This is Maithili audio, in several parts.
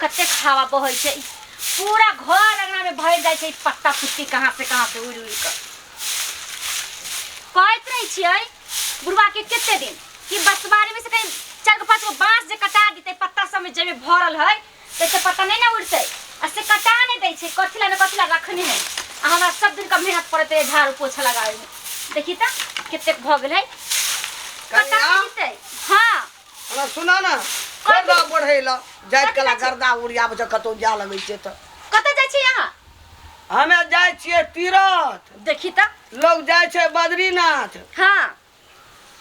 कतेक हवा बहै छै पूरा घर अंगना में भर जाइ छै पत्ता पुत्ती कहाँ से कहाँ से उड़ि उड़ि कऽ कहैत रहै छियै बुढ़वा के कते दिन कि बसवारी में से कहीं चार गो पाँच गो बाँस जे कटा देतै पत्ता सब में जाहिमे भरल है तैसे पत्ता नहीं ना उड़तै आ से कटा नहीं दै छै कथी ला ने कथी ला रखने है आ हमरा सब दिन का मेहनत पड़त है झाड़ू पोछा लगावे में देखी तऽ कतेक भऽ गेल है कटा कनिया? नहीं देतै हाँ हमरा सुना ना छोड़ दो बढ़े ला जाय कथी कला बात छै? गर्दा उड़िया बजे कतौ जा लगै छै त कतऽ जाइ छी अहाँ हमे जाय छियै तीरथ देखी तऽ लोग जाय छै बद्रीनाथ हँ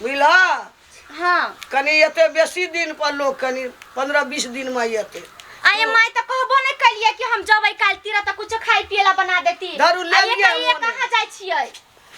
बुझलह हँ कनी एते बेसी दिन पर लोग कनी पंद्रह बीस दिन में एते आये माय तऽ कहबो नहि कलियै कि हम जबै काल्हि तीरा तऽ कुछो खाय पियै ला बना देती दारू लए आये लिअ कहियै मोने। कहाँ जाइ छियै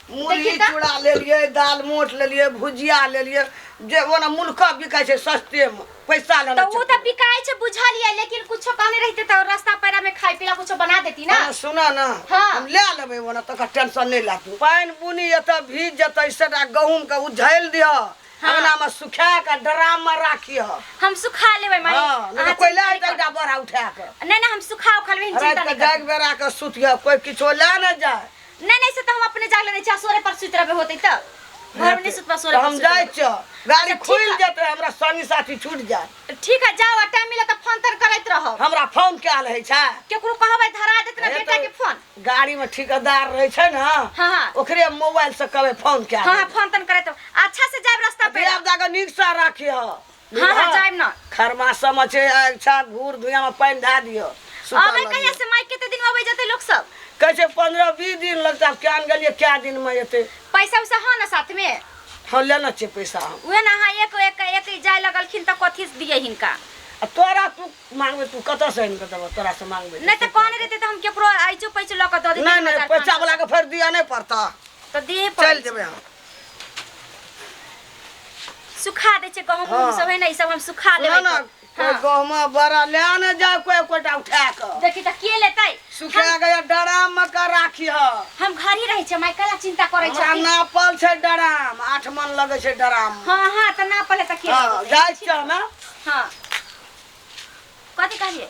मुरही देखी तऽ। चूड़ा लेलियै दाल मोट लेलियै भुजिया लेलियै जे ओना मुल्का बिकाइ छै सस्तेमे पैसा तऽ लेना उ तऽ बिकाइ छै बुझलियै लेकिन कुछो कहने रहिते तऽ रास्ता पेरा में खाय पीला कुछो बना देती ना अरे सुनऽ ना हाँ। हम ले लेबै ओना तकर टेंशन नहि ला तू पानि बुनी एतऽ भीज जेतै सेटा गहूँमके उझैल दिह अङ्गनामे सुखा कऽ ड्राममे राखिह हम सुखा लेबै माई हँ नहि अहाँ तऽ कोइला चिंता नहि एकटा बड़ा उठा कऽ करू। नहीं ना हम सुखा उखा लेबै चिंता रातिके नहीं कर जागि बेरा कऽ सुतिह कोइ किछो लए ने जाय नहीं नहीं से तो हम अपने जाग लेने चाह सोरे पर सुत रहे होते तो घर में नहीं सुत पर सोरे पर हम सुत जाए रहे। छ गाड़ी अच्छा, ठीक खुल है। जेते हमरा संगी साथी छूट जाए ठीक है जाओ टाइम मिला तो फोन तर करत रहो हमरा फोन कयल है छै केकरो कहबै धरा देत ना ए बेटा तो- के फोन गाड़ी में ठेकेदार रहे छै ना हाँ हाँ ओकरे मोबाइल से कबे फोन कयल हाँ हाँ फोन तन करत रहो। अच्छा से जाए रास्ता पे देव दादा नीक से राखी ह हाँ हाँ जाइम ना खरमा समझ छै अच्छा घूर धुइया में पानी धा दियो सुता अबे लग कहिया से माइक केते दिन में अबे जते लोग सब कहै छै पंद्रह बीस दिन लगता आब क्या गेलियै क्या दिन में एतै पैसा उसा हाँ ना साथ में हम लेना छै पैसा हम उहे ना हाँ एक एक एक ही जाए लगलखिन त कथी से दिए हिनका आ तोरा तू मांगबे तू कतऽ से आनि कऽ देबऽ तोरा से मांगबे नहीं तो कहने रहते तो हम केकरो आइचो पैचो लक दे देते नहीं नहीं पैसा वाला के फिर दिया नहीं पड़ता तो दिए चल जेबे हम सुखा दै छै गहूम हँ। सब है ना ई सब हम सुखा सुनऽ देबै ना तऽ। कोइ हाँ। गहुमा बड़ा ले ने जाए कोइ एकोटा उठा कऽ देखी तऽ के लेतै सुखा गया डराम मे का राखी ह हम घर ही रहै छै माय कला चिंता करै हमरा छथिन नापल छै डराम आठ मन लगै छै डराम मे। हाँ हाँ तऽ ना पले तऽ के हाँ, लेतै? जाइ छियै हमे हाँ कथी कहलिए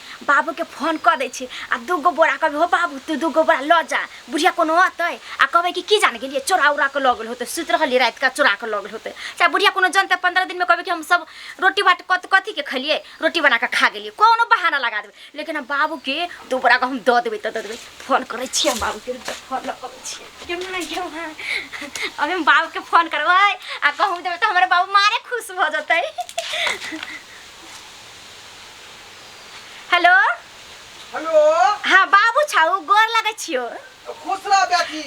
बाबूके फोन कऽ दै छी आ दू गो बोरा कहबै हो बाबू तू दू गो बोरा लऽ जा बुढ़िया कोनो अतै आ कहबै कि की जान गेलियै चोरा उरा कऽ लऽ गेल होतै सुति रहलियै राति का चोरा कऽ लऽ गेल होतै चाहे बुढ़िया कोनो जनतै पंद्रह दिनमे कहबै कि हम सब रोटी बाट कथी कथीके खेलियै रोटी बना कऽ खा गेलियै कोनो बहाना लगा देबै लेकिन हम बाबूके दू बोरा के हम दऽ देबै तऽ दऽ देबै फोन करै छियै हम बाबूके रुक जा, फोन लऽ कऽ छियै क्यों नहीं क्यों है अभी हम बाबूके फोन करबै आ कहूँ देबै तऽ हमर बाबू मारे खुश भऽ जेतै हेलो हेलो हाँ बाबू छौ गोर लगै छियो खुश रह बेटी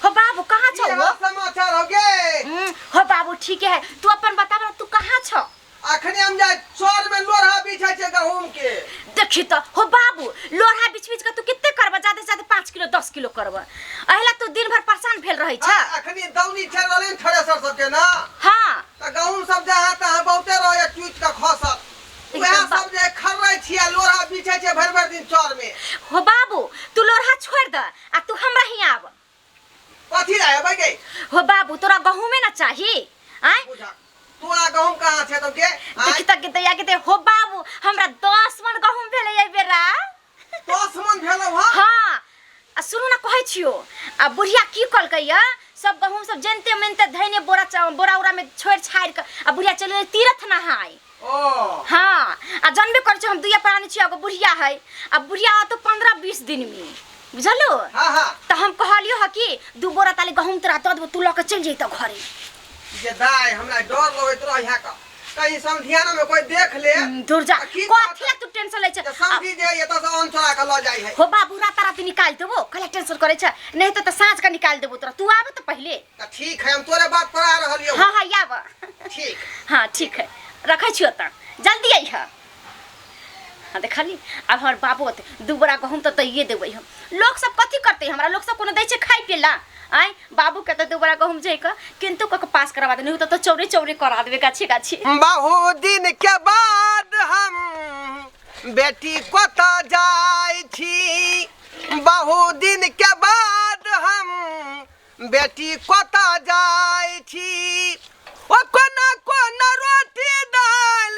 हो बाबू कहाँ छौ की हो हाल समाचार हो गे हम्म, हो बाबू ठीके है तू अपन बताब ना, तू कहाँ छौ अखने हम जाय चौर में लोढ़ा बिछै छै गहूम के देखी तो हो बाबू लोढ़ा बीच बीच के तू कितने करब ज्यादा से ज्यादा पाँच किलो दस किलो करब अहिला तू दिन भर परेशान भेल रहै छ आ, अखने दौनी चल रहलै थ्रेसर सबके ना हाँ त गहूम सब जहाँ तहाँ बहुते रहै टूट के खसत उएह सब जे खर्रै छियै लोढ़ा बिछै छै भरि भरि दिन चर में हो बाबू तू लोढ़ा छोड़ द आ तू हमरा ही आब कथी ला एबै गे हो बाबू तोरा गहूमे ना चाही आय बुझा तोरा गहूम कहाँ छै तो के देखी तक के दैया के दे हो बाबू हमरा दस मन गहूम भेलै एहि बेरा दुश्मन भेलौ हँ हाँ आ सुनू ने कहै छियो आ बुढ़िया की कहलकै या सब गहूम सब जनते मनते धैने बोरा चा- बोरा उरा में छोड़ि छाड़ि कऽ आ बुढ़िया चलि गेलै तीरथ नहाय ओ हाँ आ जानबे करै छियो हम दुइया प्राणी छियो एगो बुढ़िया है आ बुढ़िया आतो पंद्रह बीस दिन में बुझलू हाँ हाँ तऽ हम कहलियो ह कि दू बोरा ताले गहूम तोरा दऽ देबो तू लऽ कऽ चलि जैतऽ घरे जे दाय हमरा डर लगैत रहै है का कहीं समधियाना में कोई देख ले दूर जा आ की कथी ला तू टेंशन ले छै जे समधी जे एतऽ से अन्न चोरा के लऽ जाइ है हो बाबू रात रात निकाल देबो कला टेंशन करे छै नहीं तो त साँझ का निकाल देबो तोरा तू आब त पहले तऽ ठीक है हम तोरे बात पर आ रहलियो हाँ हाँ आब ठीक हाँ ठीक है रखै छियो त जल्दी अइह हाँ देखली अब हमर बाबो होते दू बड़ा गहूम तो दैये देबै हम लोग सब कथी करते हमरा लोग सब कोनो दै छै खाइ पिए ला आय बाबू के तो दू बड़ा गहूम जै के किन्तु कऽ के पास करवा देने तो, तो चौरे चौरे करा देबे गाछे गाछे बहुत दिन के बाद हम बेटी कत जाय छी बहुत दिन के बाद हम बेटी कत जाय छी ओ कोना कोना रोटी दाल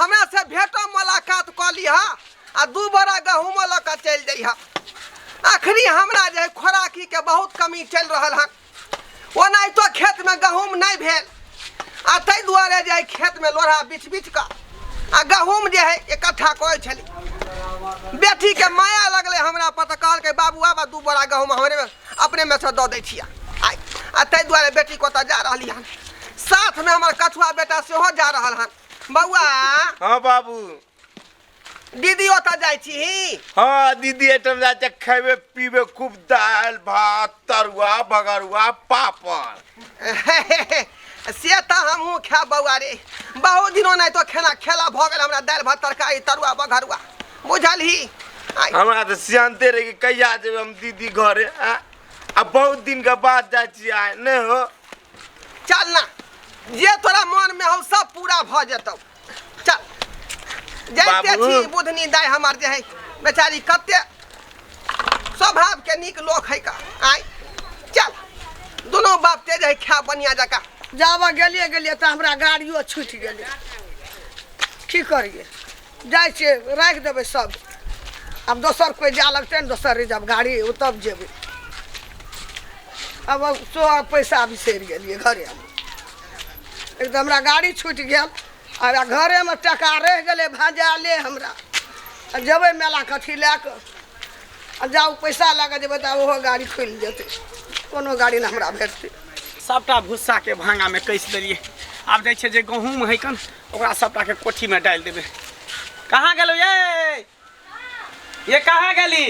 हमरा से भेटो मुलाकात कऽ लिह आ दू बोरा गहूमो लऽ कऽ चलि जइह अखनी हमरा जे खोराकी के बहुत कमी चलि रहल हन ओनाहितो खेत में गहूम नहि भेल आ ताहि दुआरे जे एहि खेत में लोढ़ा बिछ बिछ कऽ आ गहूम जे है इकट्ठा करै छली बेटी के माया लगलै हमरा पर तऽ कहलकै बाबू आबा दू बोरा गहूम हमरे में अपने में से दऽ दै छियै आइ आ ताहि दुआरे बेटी को ओतऽ जा रहली हन साथमे हमर कछुआ बेटा सेहो जा रहल हन बौआ हाँ बाबू दीदी ओतऽ जाइ छी हाँ दीदी एटम जाते खेबे पीबे खूब दाल भात तरुआ भगरुआ पापड़ से तऽ हमहूँ खायब बौआ रे बहुत दिनो नहि तो खेना खेला भऽ गेल हमरा दालि भात तरकारी तरुआ बघरुआ बुझलही आइ, हमरा तऽ सियानते रहे कि कहिया जेबै हम दीदी घरे आ आ बहुत दिन के बाद जाइ छियै आइ नहि हो चल ना जे तोरा मोनमे हौ सब पूरा भऽ जेतौ चल जैसे बाबू। छी बुधनी दाय हमार जे है बेचारी कते स्वभाव के नीक लोक है का आय चल दोनों बाप ते जे है खा बनिया जका जाबऽ गेलियै गेलियै तऽ हमरा गाड़ियो छूटि गेलै की करियै जाइ छियै राखि देबै सब आब दोसर कोइ जाय लगतै ने दोसर रिजर्व गाड़ी ओ तब जेबै आब सो पैसा बिसरि गेलियै घरे एक तऽ हमरा गाड़ी छूटि गेल आ हमरा घरेमे टाका रहि गेलै भजाले हमरा आ जेबै मेला कथी लए कऽ आ जाउ पैसा लए कऽ जेबै तऽ ओहो गाड़ी खुलि जेतै कोनो गाड़ी नहि हमरा भेटतै सभटा भुस्साके भांगामे कसि देलियै आब जाइ छै जे गहूँम है कन ओकरा सभटाके कोठीमे डालि देबै कहाँ गेलौ ये ये कहाँ गेली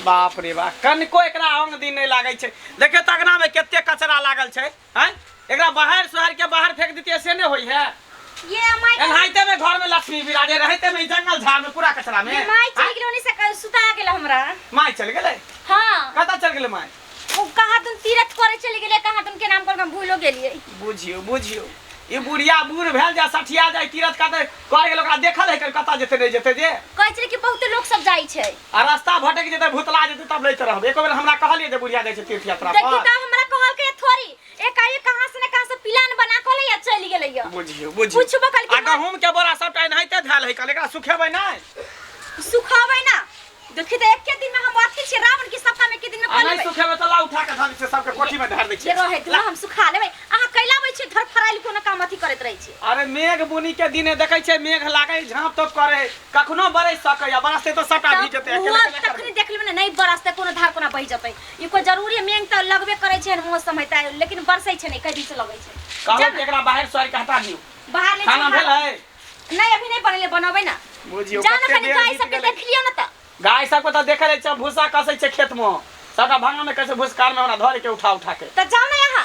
बाप रे बाप कनिको एकरा अंग दिन नहि लागै छै देखियौ तऽ अगनामे कते कचरा लागल छै हैं एकरा बाहर शहर के बाहर फेंक देतिए से नहीं होई है ये अमाई एनाहिते में घर में लक्ष्मी विराजे रहते में ई जंगल झाड़ में पूरा कचरा में ये माई चल गेलो नहीं सकल सुता गेल हमरा माय चल गेले हां कता चल गेले माय ओ कहा तुम तीरथ करे चले गेले कहा तुम के नाम पर हम भूलो गेलिए बुझियो बुझियो ई बुढ़िया बूढ़ भेल जा सठिया जाय तीरथ कते कर गेल ओकरा देखल है कता जेते नहीं जेते जे कहै छले कि बहुत लोग सब जाइ छै आ रास्ता भटक जेतै भुतला जेतै तब लैत रहब एको बेर हमरा कहलिए जे बुढ़िया जाइ छै तीर्थ यात्रा पर देखी त हमरा कहल के थोड़ी एकाएक कहां से ने कहां से प्लान बना के ले चल गेलै या बुझियो बुझियो पूछबो कल के आ गहूम के बोरा सबटा एनाहिते धैल है कल एकरा सुखेबै नै सुखाबै ना देखी त एके दिन में हम अथी छै रावण के सपना में के दिन में आ नै सुखेबै त ला उठा के धर छै सबके कोठी में धर दै छै रहे दू हम सुखा लेबै अहाँ कैला बै छै धर फराइल कोनो काम अथी करैत रहै छै अरे मेघ बुनी के दिने देखै छै मेघ लागै झाँप तोप करे कखनो बरसि सकैए बरसतै तऽ सभटा भीज जेतै तब अकेले ओ केना करबै तखनी देख लेबै ने नहि बरसतै कोनो धार कोना बहि जेतै ई कोइ जरूरी है, मेघ तऽ लगबे करै छै एहन मौसम है तऽ लेकिन बरसै छै नहि कई दिन से लगै छै कहलहुँ जाउ कि ने, एकरा बाहर सोहारि कऽ हटा दियौ बाहर नहि खाना छै, बाहर- भेलै नहि अभी नहि बनले बनबै ना बुझियौ जान कते कनी देर गाय बीत सबके गेलै। देख लियो ना त गाय सबके तऽ देखै रहै छियै भूसा कसै छै खेतमे सभटा भाङामे कहै छै भूसकारमे हमरा धऽ लेके उठा उठा के त जाउ ना यहाँ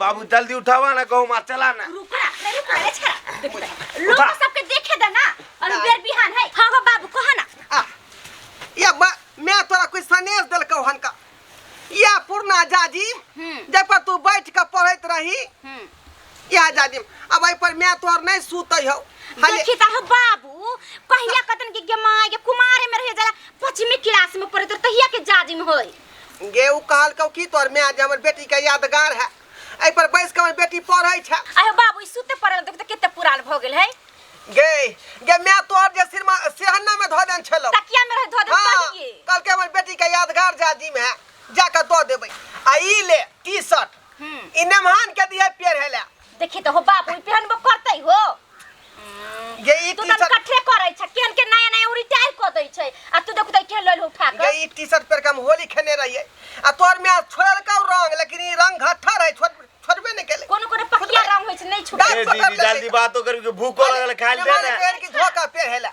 बाबू जल्दी उठावा ना गहूँ मार चला ना रुक ना अरे रुक ना रे छड़ा देख ना। लोग उठा। सबके देखे दे ना और ना। बेर बिहान है हां हां बाबू कहा ना आ, या बा मैं तोरा कुछ सनेश देलकौ हन का या पुरना जाजिम हम्म। जाहि पर तू बैठ के पढ़ैत रही हम्म या जाजिम अब एहि पर मैं तोहर नहीं सुतै हौ हले देखी ता हो बाबू कहिया कतन के गमाय के कुमारे में रह जाला पचमी क्लास में पढ़े तो तहिया के जाजिम होई गे ओ कहलकौ की तोर माय जे हमर बेटी के यादगार है एहि पर बैस के हमर बेटी पढ़ै छै अरे बाबू ई सुते पड़ल देख तऽ कते पुरान भऽ गेल है गे गे माय तोर जे सिरमा सेहन्ना में धऽ देन छलौ तकिया में रह धऽ दे हाँ, पढ़िए कहलकै हमर बेटी के यादगार जाजी में है जाके दऽ देबै आ ई ले टी शर्ट हम्म ई नमहान के दिहे पेड़ हेला देखी तो हो बाप ओइ पेहनबो करतै हो गे ई तू टी तन शर्ट कठे करै छ केन के नया नया उरी टायर क दै छै आ तू देखू त केन लइल हो उठा गे के ई टी शर्ट पर के हम होली खेने रहिए आ तोर में आज छोड़ल का रंग लेकिन ई रंग घट्ठा रहे छोड़ छोड़बे नहीं केले कोनो कोनो पकिया रंग होइ छै नै छुटे ए दीदी जल्दी बात तो करी कि भूख लगल खाइल दे ना पेड़ की धोखा पेड़ हेला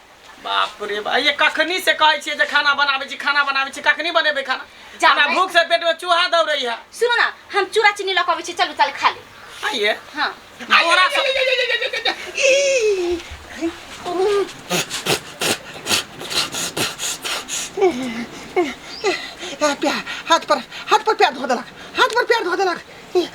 बाप रे बा ये कखनी से कहै छियै जे खाना बनाबै छी खाना बनाबै छी कखनी बनेबै खाना जा हमरा भाइ। भूख से पेट में चूहा दौड़ै है सुनो ना हम चूड़ा चीनी लऽ कऽ अबै छी चलू चल खा ले आइए हाँ बोरा से आ, प्या हाथ पर हाथ पर प्यार धो देलक हाथ पर प्यार धो देलक ई,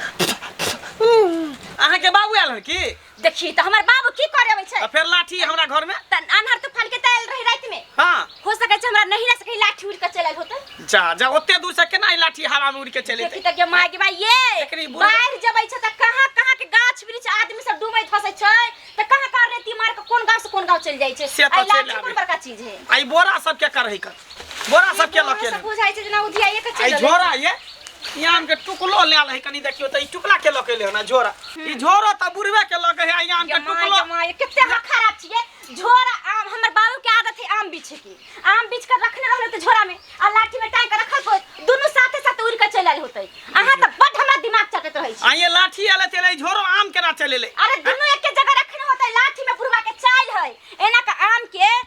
अहाँ के बाबू आयल है की देखी त हमर बाबू की करे अबै छै आ फेर लाठी हमरा घर में त अनहर तूफान के तैल रही रात में हाँ हो सके छै हमरा नहीं ना सके लाठी उड़ के चलल होते जा जा ओते दूर से केना ई लाठी हवा में उड़ के चले देखी त के माय के भाई एकरी ये बुढ़- बाढ़ जबै छै त कहां कहां के गाछ वृक्ष आदमी सब डूबै धसै छै त कहां कहां रेती मार के कोन गांव से कोन गांव चल जाय छै से त आ चलि लाठी आबै। कोन बड़का चीज है आई बोरा सब के करही कर बोरा सब के लऽ के सब बुझाइ छै जेना उधियाइए के आई चलि झोरा ये ई आम के टुकलो ले ले कनी देखियो त ई टुकला के लऽ के ले ना झोरा ई झोरो त बुढ़वे के लऽ के है आई आम के जमाई टुकलो जमाई कते हमरा खराब छिए झोरा आम हमर बाबू के आदत है आम बीछे की आम बीछ कर रखने रहले त झोरा में आ लाठी में टांग के रखल होत दुनु साथे साथ उड़ के चल आइल होतै अहाँ त बड हमरा दिमाग चटत रहै छी आई लाठी आले चले झोरो आम केना चले ले अरे दुनु एके जगह रखने होतै लाठी में बुढ़वा के चाइल है एना के आम के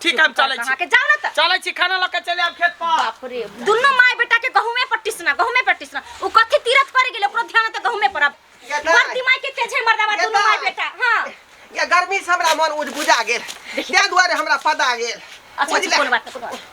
ठीक है हम चलै छी के जाओ ना त चलै छी खाना लऽ के चले आब खेत पर बाप रे दुनो माय बेटा के गहुमे पर टिसना गहुमे पर टिसना उ कथि तीरथ करे गेले ओकरो ध्यान त गहुमे पर अब ये दाई। बड़ दिमाग के तेज है मर्दावा ये दुनो माय दाई। बेटा हां ये गर्मी से हमरा मन उज बुझा गेल ताहि दुआरे हमरा पदा गेल अच्छा बुझले? कोन बात कोन बात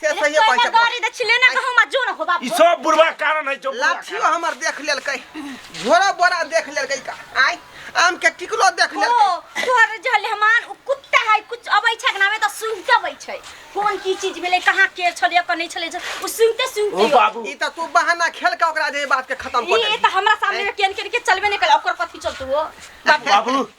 से अरे सही तोरा पैसा गाड़ी दे छिले ना कहूं मत जो ना हो बाप ई सब बुढ़वा कारण है जो बुढ़वा लाठियो कारण। हमर देख लेलकै झोरा बोरा देख लेलकै का आय आम के टिकलो देख ओ लेलकै तोहर जहले हमान उ कुत्ता है कुछ अबै छै के नामे त सुनते अबै छै कोन की चीज भेलै कहाँ के छलै कने छलै जे उ सुनते ओ सुनते बाबू ई त तू बहाना खेल के ओकरा जे बात के खत्म कर ई दे त हमरा सामने में केन केन के चलबे नै कल ओकर कथि चलतु हो बाप बाबू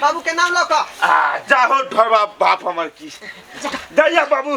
बाबू के नाम लो का आ जाहो ढोबा बाप हमर की दैया बाबू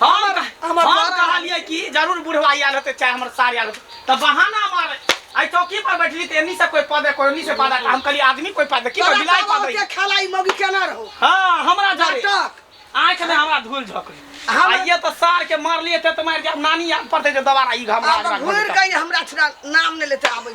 हम हम कहलियै कि जरूर बुढ़वा आयल होते चाहे हमर सार आयल होते तऽ बहाना मारे आई चौकी पर बैठली तो एनी से कोई पद कोई एनी से पद हम कहली आदमी कोई पद की कोई बिलाई पद के खाला ई मौगी केना रहो हां हमरा जारे आंख में हमरा धूल झोकली हम ये तो सार के मार लिए थे तो मार के नानी याद पड़ते जो दोबारा ई घमरा घुर गई हमरा छुड़ा नाम ने लेते आबे